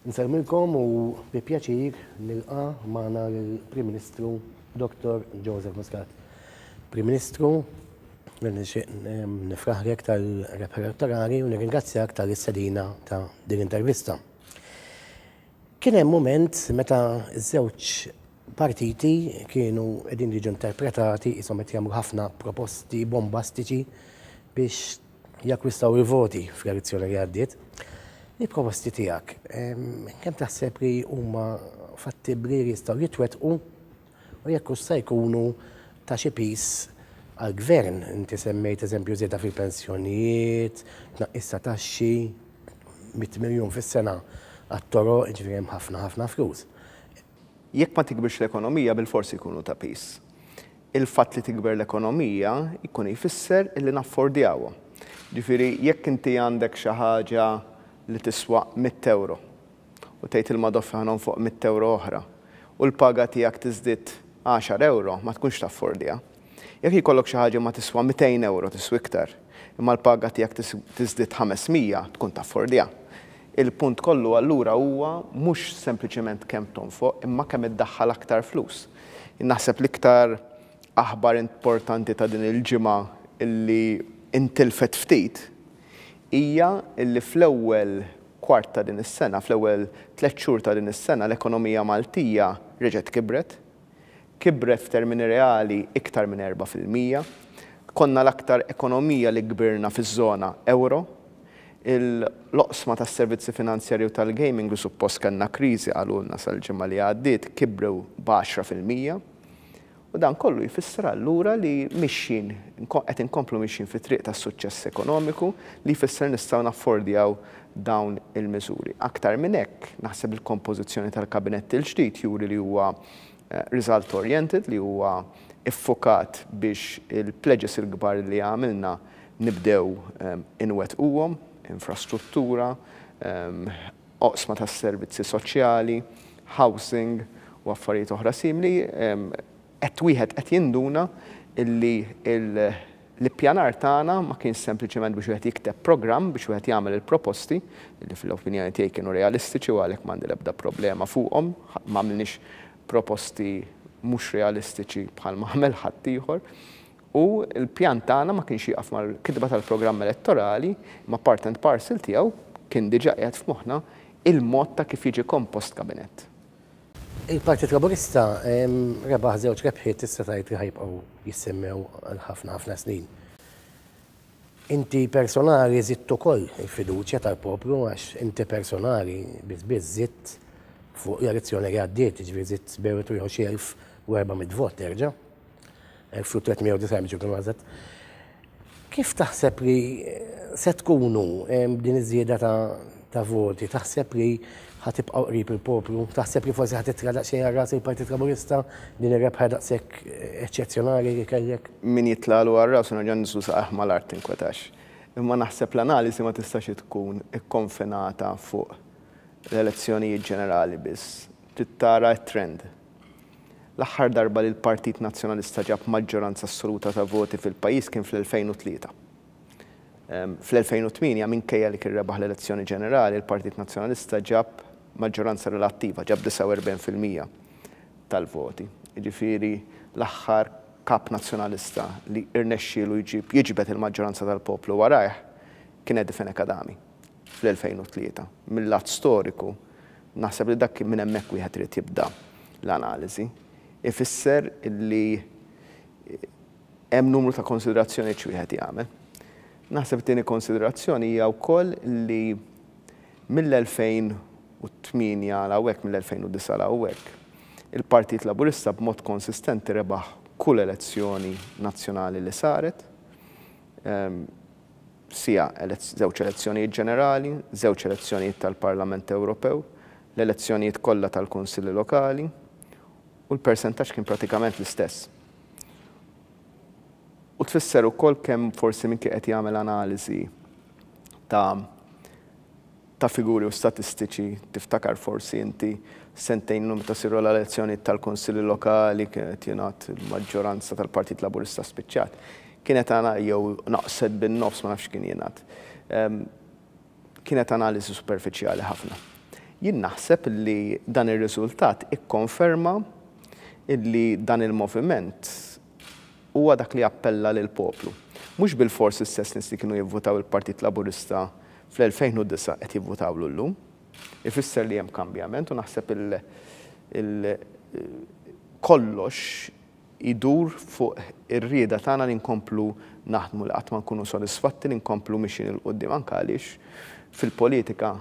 Insellmilkom u bi pjaċir nilqa' magħna lill-Prim Ministru Dottor Joseph Muscat. Prim Ministru, nixtieq nifraħlek tal-rebħa elettorali u nirringrazzjak tal-istedina ta' din l-intervista. Kien hemm mument meta ż-żewġ partiti kienu qegħdin jiġu interpretati qishom qed jagħmlu ħafna proposti bombastiċi biex jakkwistaw il-voti fl-elezzjoni li għaddiet. Il-proposti tiegħek kemm taħseb li huma fattibbli li jistgħu jitwettqu u jekk u sta jkunu ta' xi pis għall-gvern. Inti semmejt eżempju żieda fil-pensjonijiet, tnaqqis ta' taxxi, 100 miljun fis-sena għat-toro, ġifieri hemm ħafna ħafna flus. Jekk ma tikbirx l-ekonomija bilfors ikunu ta' pis. Il-fatt li tikber l-ekonomija jkun jfisser li naffordjawhom. Ġifieri jekk inti għandek xi ħaġa li tiswa mitt ewro u tgħid il-madoffi ħa nonfoq mitt ewro oħra u l-paga tiegħek tiżdied għaxar ewro, ma tkunx taffordja. Jekk jkollok xi ħaġa ma tiswa mitejn ewro tiswa iktar imma l-paga tiegħek tiżdied ħames mija tkun taffordja. Il-punt kollu allura huwa mhux sempliċement kemm tonfoq imma kemm iddaħħal aktar flus. Jien naħseb l-iktar aħbar importanti ta' din il-ġimgħa li intilfet ftit hija li fl-ewwel kwart ta' din is-sena, fl-ewwel tliet xhur ta' din is-sena l-ekonomija Maltija reġgħet kibret. Kibret f'termini reali iktar minn erbgħa fil-mija. Konna l-aktar ekonomija li kbirna fiż-żona euro. L-oqsma tas-servizzi finanzjarji u tal-gaming li suppost kellna kriżi qalulna sal-ġimgħa li għaddiet kibrew b'għaxra fil-mija. U dan kollu jfisser allura li mixjin, qed inkomplu mixjin fit-triq tas-suċċess ekonomiku li jfisser nistgħu naffordjaw dawn il-miżuri. Aktar minn hekk, naħseb li l-kompożizzjoni tal-Kabinett il-ġdid juri li huwa Result oriented li huwa ffukat biex il-pledges il-kbar li għamilna nibdew inwettquhom, infrastruttura, oqsma tas-servizzi soċjali, housing u affarijiet oħra simili, qed wieħed qed jinduna li l, L-ippjanar tagħna ma kienx sempliċement biex wieħed jikteb programm biex wieħed jagħmel il-proposti, li fl-opinjoni tiegħi kienu realistiċi u għalhekk m'għandi l-ebda problema fuqhom, m'għamilniex proposti mhux realistiċi bħal ma għamel ħaddieħor, u l-pjan tagħna ma kienx jieqaf mal-kitba tal-programm elettorali, imma part and parcel tiegħu kien diġà qiegħed f'moħħna il-mod ta' kif jiġi kompost kabinett. Il-Partit Laburista rebaħ żewġ rebħiet tista' tgħid li ħajbqgħu jissemmew għal ħafna ħafna snin. Inti personali żidt ukoll il-fiduċja tal-poplu għax inti personali biss biss żidt fuq l-elezzjoni li għaddiet, jiġifieri żidt bejn wieħed u ieħor xi 1,400 vot terġa'. 1390 ġu kien għazet. Kif taħseb li se tkunu din iż-żieda ta' voti? Taħseb li ħatibqgħu qrib il-poplu? Taħseb li forsi ħatitra daqsxejn għarras il-Partit Laburista din ir-rebħa daqshekk eċċezzjonali li kellek? Min jitlalu għarras u nerġa' ninżlu saqajh mal-art tinkwetax. Imma naħseb l-analiżi ma tistax tkun ikkonfinata fuq l-elezzjonijiet ġenerali biss. Trid tara t-trend. L-aħħar darba li l-Partit Nazzjonalista ġab maġġoranza assoluta ta' voti fil-pajjiż kien fl-2003. Fl-2008, minkejja li kien rebaħ l-elezzjoni ġenerali, il-Partit Nazzjonalista ġab maġġoranza relattiva, ġab 49 fil-mija tal-voti. Jiġifieri l-aħħar Kap Nazzjonalista li rnexxielu jġib, jiġbed il-maġġoranza tal-poplu warajh kien Eddie Fenech Adami fl-2003. Mil-lat storiku, Naħseb li dak minn hemmhekk wieħed irid jibda l-analiżi. Ifisser li hemm numru ta' konsiderazzjonijiet x'wieħed jagħmel. Naħseb it-tieni konsiderazzjoni hija wkoll li mill-2008 għal hawnhekk, mill-2009 għal hawnhekk, il-Partit Laburista b'mod konsistenti rebaħ kull elezzjoni nazzjonali li saret. siegħa, żewġ elezzjonijiet ġenerali, żewġ elezzjonijiet tal-Parlament Ewropew, l-elezzjonijiet kollha tal-Kunsilli Lokali, u l-persentaġġ kien pratikament l-istess. U tfisser ukoll kemm forsi min kien qed jagħmel analiżi ta' ta' figuri u statistiċi, tiftakar forsi inti sentejn ilu meta siru l-elezzjonijiet tal-Kunsilli Lokali kien qed jingħad il-maġġoranza tal-Partit Laburista spiċċat. Kienet ana jew naqset bin-nofs ma nafx x'kien jingħad. Kienet analiżi superfiċjali ħafna. Jien naħseb li dan ir-riżultat ikkonferma li dan il-moviment huwa dak li appella lill-poplu. Mhux bilfors l-istess nies li kienu jivvutaw il-Partit Laburista fl-2009 qed jivvutawlu llum, ifisser li hemm kambjament u naħseb il kollox idur fuq ir-rieda tagħna li nkomplu naħdmu, li qatt ma nkunu sodisfatti, li nkomplu mixjin 'il quddiem anke għaliex fil-politika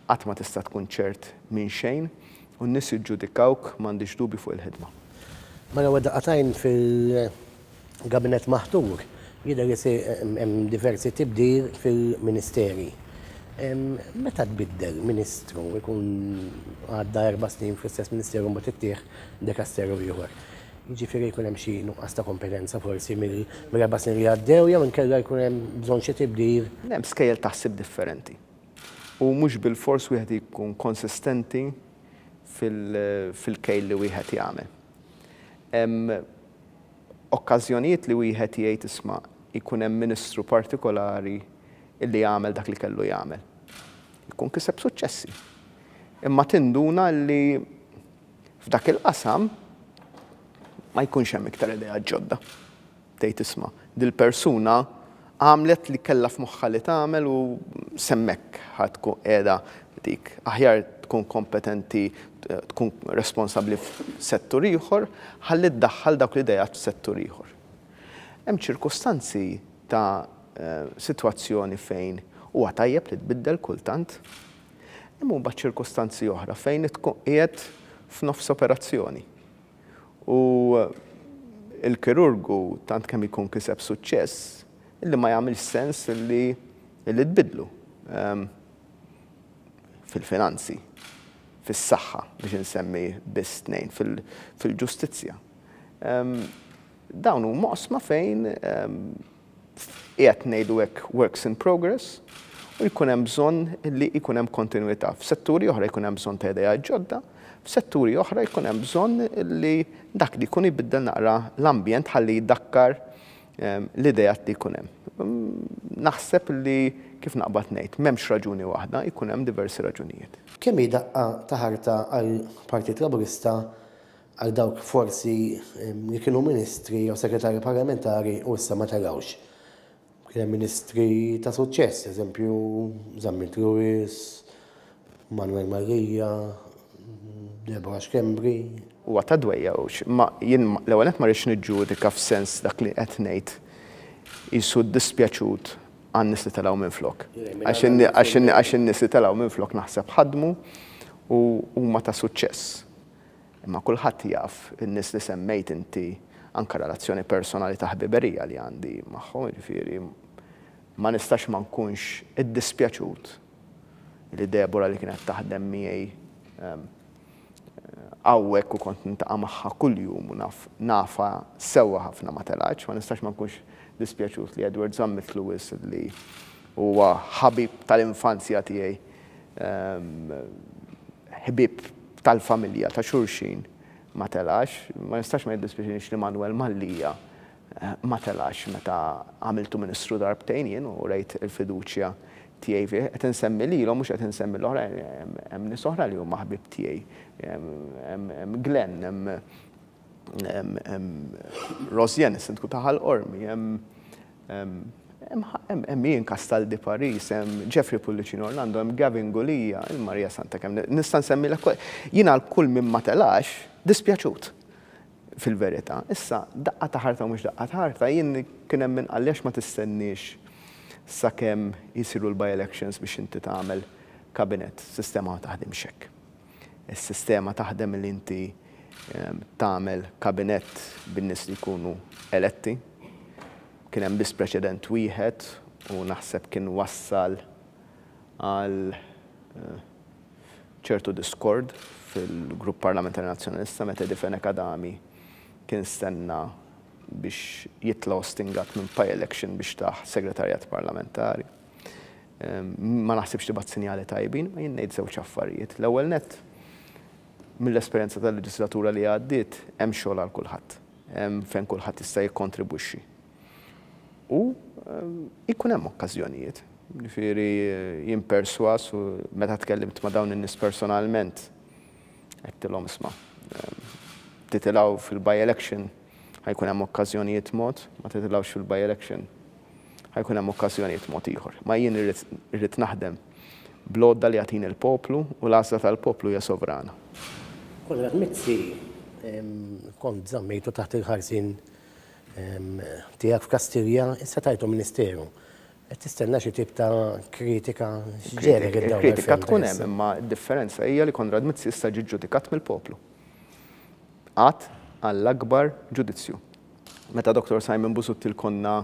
qatt ma tista' tkun ċert minn xejn u n-nies jiġġudikawk m'għandix dubju fuq il-ħidma. Mela wadda' qatajn fil Gabinett maħtur, jidher li se hemm diversi tibdil fil-ministeri. Meta tbiddel ministru jkun għadda erba' snin fl-istess ministeru mbagħad ittieħ dekasteru ieħor. Jiġifieri jkun hemm xi nuqqas ta' kompetenza forsi mill-erba' snin li għaddew jew inkella jkun hemm bżonn xi tibdil. Hemm skejjel ta' ħsieb differenti u mhux bilfors wieħed jkun konsistenti fil-kejl li wieħed jagħmel. okkażjonijiet li wieħed jgħid isma' jkun hemm ministru partikolari li għamel dak li kellu jagħmel. Jkun kiseb suċċessi. Imma tinduna li f'dak il-qasam ma jkunx hemm iktar ideat ġodda. Tgħid isma' dil-persuna Għamlet li kellha f'moħħha li tagħmel u s'hemmhekk ħa tkun qiegħda dik. Aħjar tkun kompetenti tkun responsabbli f'settur ieħor ħalli ddaħħal dawk l-ideat f'settur ieħor. Hemm ċirkustanzi ta' sitwazzjoni fejn huwa tajjeb li tbiddel kultant. Imma mbagħad ċirkustanzi oħra fejn tkun qiegħed f'nofs operazzjoni. u l-kirurgu tant kemm jkun kiseb suċċess illi ma jagħmilx sens illi illi tbiddlu. Fil-finanzi, fis-saħħa biex insemmi biss tnejn, fil-ġustizzja. Dawn huma oqsma fejn qiegħed ngħidu hekk works in progress u jkun hemm bżonn li jkun hemm kontinwità. F'setturi oħra jkun hemm bżonn ta' ideat ġodda, f'setturi oħra jkun hemm bżonn li dak li jkun jbiddel naqra l-ambjent ħalli jdakkar l-ideat li jkun hemm. Naħseb li kif naqbad ngħid, m'hemmx raġuni waħda, jkun hemm diversi raġunijiet. Kemm hi daqqa ta' ħarta għall-Partit Laburista Għal dawk forsi li kienu ministri jew segretarji parlamentari u issa ma telgħux. Kien hemm ministri ta' suċċess, eżempju Zammit Lewis, Manuel Mallia, Deborah Schembri. Huwa ta' dwejjgħux, imma jien l-ewwel nett ma rridx niġġudika f'sens dak li qed ngħid qisu dispjaċut għan-nies li telgħu minflok. Għax in-nies li telgħu minflok naħseb ħadmu u huma ta' suċċess. Imma kulħadd jaf in-nies li semmejt inti, anke relazzjoni personali ta' ħbiberija li għandi magħhom, jiġifieri ma nistax ma nkunx iddispjaċut li Deborah li kienet taħdem miegħi hawnhekk u kont nintaqa' magħha kuljum u naf nafha sewwa ħafna ma telgħetx, ma nistax ma nkunx dispjaċut li Edward żammitlu wisq li huwa ħabib tal-infanzja tiegħi ħbieb tal-familja ta' xulxin ma telax. Ma nistax ma jiddispjaċinix li Manwel Mallia ma telax meta għamiltu Ministru darbtejn jien u urejt il-fiduċja tiegħi fih. Qed insemmi lilhom mhux qed insemmi l-oħrajn, hemm nies oħra li huma ħbieb tiegħi. Hemm Glenn, hemm Rosianne, is-Sindku ta' Ħal Qormi, hemm Hemm Ian Castaldi Paris, hemm Jeffrey Pullicino Orlando, hemm Gavin Gulia, il-Marija Santa kemm nista' nsemmilek jien għal kull minn ma telax dispjaċut fil-verità. Issa daqqa ta' ħarta u mhux daqqa ta' ħarta jien kien hemm min qal għax ma tistenniex sakemm isiru l-by-elections biex inti tagħmel kabinett. Sistema ma taħdimx hekk. Is-sistema taħdem li inti tagħmel kabinett bin-nies li jkunu eletti. Kien hemm biss preċedent wieħed u naħseb kien wassal għal ċertu diskord fil-Grupp Parlamentari Nazzjonalista meta Edi Fenech Adami kien stenna biex jitla' ostingat minn Pye Election biex tah Segretarjat Parlamentari. Ma naħsibx tibgħat sinjali tajbin, imma jien ngħid żewġ affarijiet. L-ewwel nett, mill-esperjenza tal-leġislatura li għaddiet, hemm xogħol għal kulħadd. Hemm fejn kulħadd jista' jikkontribwixxi. U jkun hemm okkażjonijiet. Jiġifieri jien persważ u meta tkellimt ma' dawn in-nies personalment, għedtilhom isma', titilgħu fil-by-election ħa jkun hemm okkażjonijiet mod, ma titilgħux fil-by-election. Ħa jkun hemm okkażjonijiet mod ieħor. Ma jien irrid irrid naħdem bl-għodda li jagħtini l-poplu u l-għażla tal-poplu hija sovrana. Konrad Mizzi, kont żammejtu taħt il-ħarsien tiegħek f'Kastilja, issa tajtu ministeru. Qed tistenna xi tip ta' kritika? X'ġegħlek iddawwar f'hemm? Il-kritika tkun hemm imma d-differenza hija li Konrad Mizzi issa ġie ġġudikat mill-poplu. Għad għall-akbar ġudizzju. Meta Doctor Simon Busuttil konna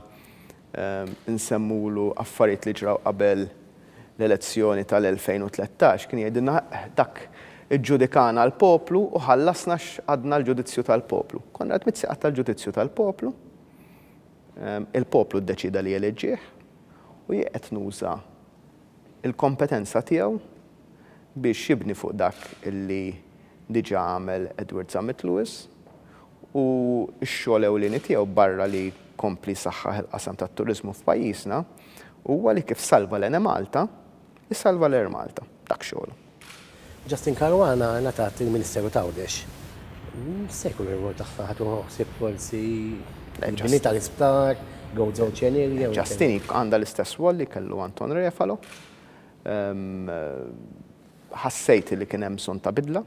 insemmulu affarijiet li ġraw qabel l-elezzjoni tal-2013 kien jgħidilna dak iġġudikana l-poplu u ħallasna x'għadna l-ġudizzju tal-poplu. Konna qed mizzi qatta l-ġudizzju tal-poplu, il-poplu ddeċieda li jeleġġih u jie qed nuża l-kompetenza tiegħu biex jibni fuq dak li diġà għamel Edward Zammit Lewis u x-xogħol ewlieni tiegħu barra li jkompli jsaħħaħ il-qasam tat-turiżmu f'pajjiżna huwa li kif salva l-Enemalta, isalva l-Air Malta. Dak xogħlu. Justin Caruana ngħatat il-Ministeru t'Għawdex. X'se jkun ir-rwol tagħha? Ħa tieħu ħsieb forsi l-bini tal-isptar, Goats Ocean Area? Justin għandha l-istess rwol li kellu Anton Refalo. Ħassejt li kien hemm bżonn ta' bidla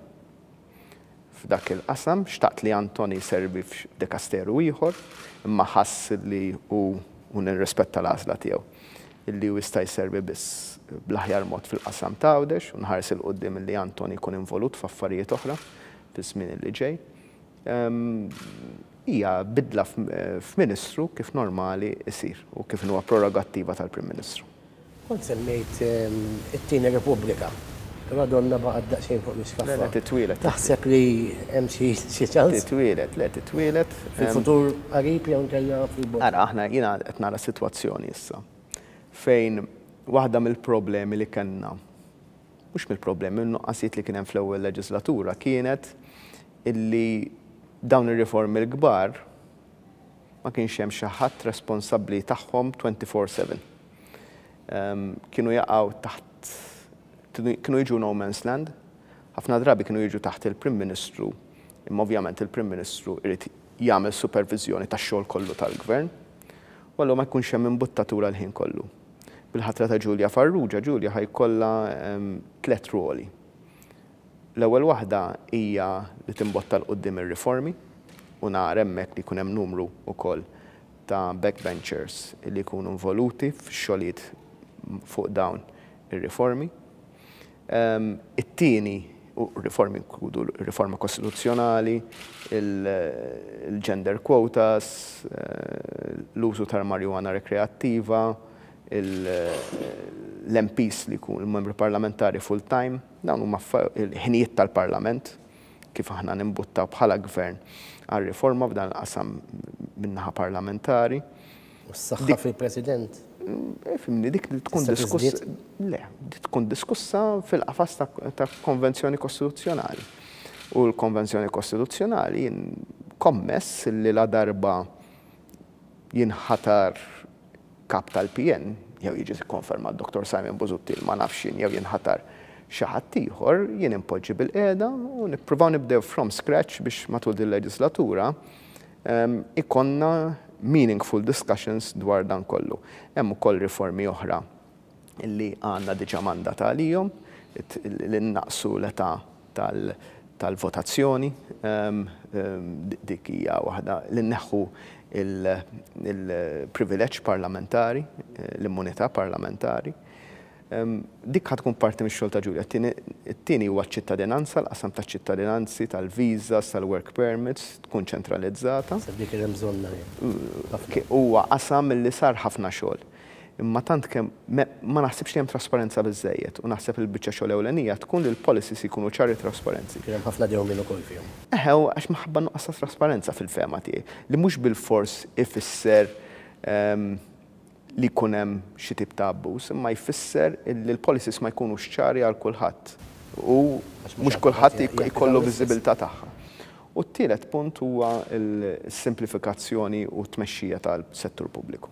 f'dak il-qasam. Xtaqt li Antoni jservi f'dikasteru ieħor, imma ħass li hu, u nirrispetta l-għażla tiegħu, li hu jista' jservi biss bl-aħjar mod fil-qasam ta' Għawdex u nħares 'il quddiem li Antoni jkun involut f'affarijiet oħra fiż-żmien li ġej. Hija bidla f'Ministru kif normali jsir u kif inhuwa prerogattiva tal-Prim Ministru. Kont semmejt it-Tieni Repubblika, però donnha baqgħet daqsxejn fuq l-iskaffa. Le, le, titwieled. Taħseb li hemm xi ċans? Titwieled, le, titwieled. Fil-futur qarib jew inkella fil-bogħod? Ara, aħna, jiena qed nara sitwazzjoni issa fejn waħda mill-problemi li kellna, mhux mill-problemi, min-nuqqasijiet li kien hemm fl-ewwel leġiżlatura kienet illi dawn ir-riformi l-kbar, Ma kienx hemm xi ħadd responsabbli tagħhom twenty four seven. Kienu jaqgħu taħt kienu jiġu no man's land, ħafna drabi kienu jiġu taħt il-Prim Ministru, imma ovvjament il-Prim Ministru jrid jagħmel superviżjoni tax-xogħol kollu tal-Gvern, u allura ma jkunx hemm imbuttatura l-ħin kollu. Bil-ħatra ta' Julia Farrugia, Julia ħa jkollha tliet rwoli. L-ewwel waħda hija li timbotta 'l quddiem ir-riformi u nara hemmhekk li jkun hemm numru wkoll ta' backbenchers li jkunu involuti fix-xogħlijiet fuq dawn ir-riformi. It-tieni, u r-riformi jinkludu r-riforma kostituzzjonali, il-gender quotas, l-użu tal-marijuana rekreattiva, l-MPs li jkunu, l-membri parlamentari full-time, Dawn huma l-ħinijiet tal-Parlament kif aħna nimbuttaw bħala Gvern għal riforma f'dan il-qasam min-naħa parlamentari. U s-saħħa fil-President? Ifhimni, dik trid tkun diskussa. Le, dik tkun diskussa fil-qafas ta' konvenzjoni kostituzzjonali. U l-konvenzjoni kostituzzjonali kommess li la darba jinħatar Kap tal-PN, jew jiġi kkonfermat Dottor Simon Busuttil, ma nafx jien, jew jinħatar xi ħadd ieħor, jien inpoġġi bil-qiegħda u nippruvaw nibdew from scratch biex matul dil-leġislatura ikollna meaningful discussions dwar dan kollu. Hemm ukoll riformi oħra li għandna diġà mandat għalihom, li nnaqsu l-età tal-votazzjoni, dik hija waħda, li nneħħu l-privileġġ parlamentari, l-immunità parlamentari. Dik ħa tkun parti mix-xogħol ta' Julia. It-tieni huwa ċ-ċittadinanza, l-qasam taċ-ċittadinanzi, tal-visas, tal-work permits, tkun ċentralizzata. Dik kien hemm bżonnha, hi. Huwa qasam li sar ħafna xogħol. Imma tant kemm ma naħsibx li hemm trasparenza biżżejjed u naħseb li l-biċċa xogħol ewlenija tkun li l-policies jkunu ċari trasparenti. Kien hemm ħafna dewmien ukoll fihom. Eħe, u għax minħabba n-nuqqas ta' trasparenza fil-fehma tiegħi, li mhux bilfors ifisser li jkun hemm xi tip ta' abbuż, imma jfisser li l-policies ma jkunux ċari għal kulħadd u mhux kulħadd ikollu viżibilità tagħha. U t-tielet punt huwa s-simplifikazzjoni u t-tmexxija tal-settur pubbliku.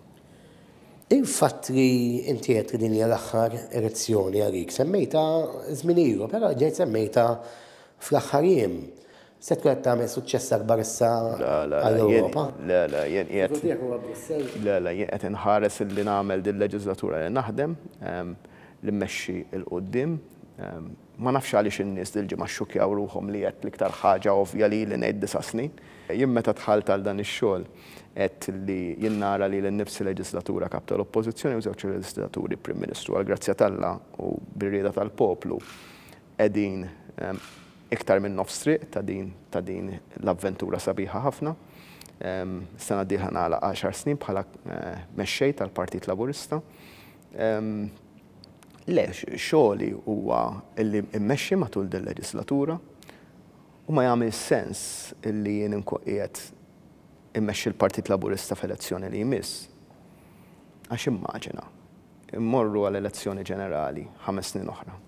Il-fatt li inti għedt li din hija l-aħħar elezzjoni għalik, semmejtha żmien ilu, però ġejt semmejtha fl-aħħar jiem. Se tkun qed tagħmel suċċess akbar issa għall-Ewropa? Le, le, jien qiegħed. Le, le, jien qed inħares illi nagħmel dil-leġiżlatura li naħdem, li mmexxi 'l quddiem. Ma nafx għaliex in-nies dil-ġimgħa xxukkjaw ruħhom li għedt l-iktar ħaġa ovvja li ili ngħid disa' snin. Jien meta dħalt għal dan ix-xogħol għedt li jien nara lili nnifsi leġislatura Kap tal-Oppożizzjoni u żewġ leġislaturi Prim Ministru. Għall-grazzja t'Alla u bir-rieda tal-poplu qegħdin iktar minn nofs triq ta' din ta' din l-avventura sabiħa ħafna. Is-sena d-dieħla nagħlaq għaxar snin bħala Mexxej tal-Partit Laburista. Le, xogħli huwa li mmexxi matul dil-leġislatura u ma jagħmilx sens li jien inkun qiegħed immexxi l-Partit Laburista f'elezzjoni li jmiss. Għax immaġina, immorru għal elezzjoni ġenerali ħames snin oħra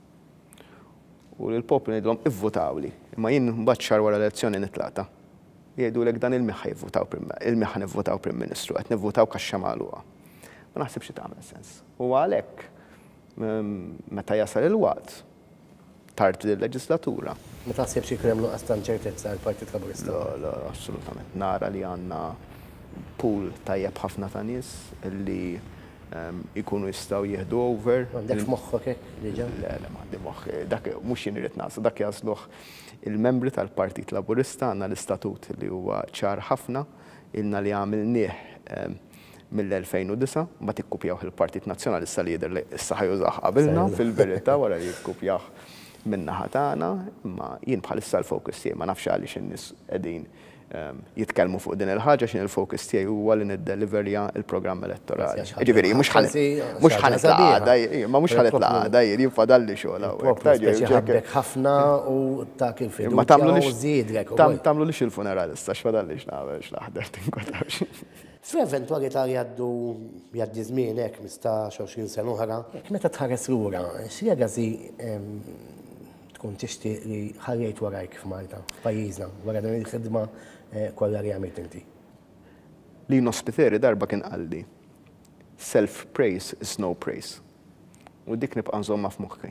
u lill-poplu ngħidilhom ivvutawli imma jien mbagħad xahar wara l-elezzjoni nitlaqta'. Jgħidulek dan il-min ħa jivvutaw, il-min ħa nivvutaw Prim Ministru, qed nivvutawk għax-xemgħa magħluqa. Ma naħsibx li tagħmel sens. U għalhekk, meta jasal il-waqt, tard din il-leġislatura. Ma taħsibx li jkun hemm nuqqas ta' inċertezza għall-Partit Laburista? Le, le, assolutament. Nara li għandna pool tajjeb ħafna ta' nies li jkunu jistgħu jieħdu over. M'għandekx moħħok hekk diġà? Le, le, m'għandi moħħi. Dak mhux jien irrid nagħżel, dak jagħżluh il-membri tal-Partit Laburista. Għandna l-istatut li huwa ċar ħafna. Ilna li għamilnieh mill-2009, mbagħad ikkupjawh il-Partit Nazzjonalista li jidher li issa ħa jużah qabilna fil-verità wara li kkupjah min-naħa tagħna, imma jien bħalissa l-focus tiegħi, ma nafx għaliex in-nies qegħdin jitkellmu fuq din il-ħaġa, x'inhi l-focus tiegħi huwa li niddeliverja l-programm elettorali. Jiġifieri mhux ħa mhux ħa nitla' għada, imma mhux ħa nitla' għada jien, jien fadalli xogħol hawnhekk. Tgħid jgħid hekk. Ħabbek ħafna u tak il-fiduċja u żiedlek. Imma tagħmlulix tagħmlulix il-funeral issa x'fadallix nagħmel x'naħdem tinkwetanx. Fl-eventwalità li għaddu jgħaddi ż-żmien hekk mistax, għoxrin sena oħra, hekk meta tħares lura, x'legacy tkun tixtieq li ħallejt warajk f'Malta, f'pajjiżna, wara din il-ħidma kollha li għamilt inti? Lino Spiteri darba kien qalli, Self praise is no praise. U dik nibqa' nżommha f'moħħi,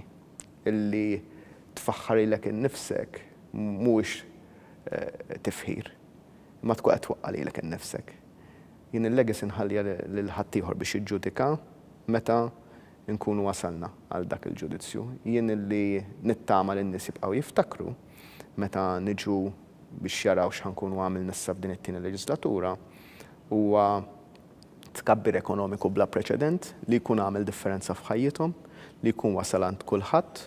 illi tfaħħar lilek innifsek mhuwiex tifħir. Imma tkun qed twaqqa' lilek innifsek. Jien il-legacy nħalliha lil ħaddieħor biex jiġġudika meta nkunu wasalna għal dak il-ġudizzju. Jien li nittama li n-nies jibqgħu jiftakru meta niġu biex jaraw x'ħa nkunu għamilna issa f'din it-tieni leġislatura huwa, tkabbir ekonomiku bla preċedent li jkun għamel differenza f'ħajjithom, li jkun wasal għand kulħadd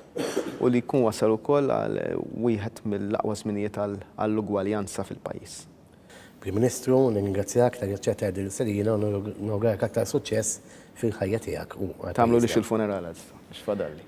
u li jkun wasal ukoll għal wieħed mill-aqwa żminijiet għall-ugwaljanza fil-pajjiż. Prim Ministru, nirringrazzjak tal-li aċċettajt din l-istedina u nawguralek aktar suċċess fil-ħajja tiegħek u għall-pajjiż tiegħek. Tagħmlulix il-funeral għad, x'fadalli.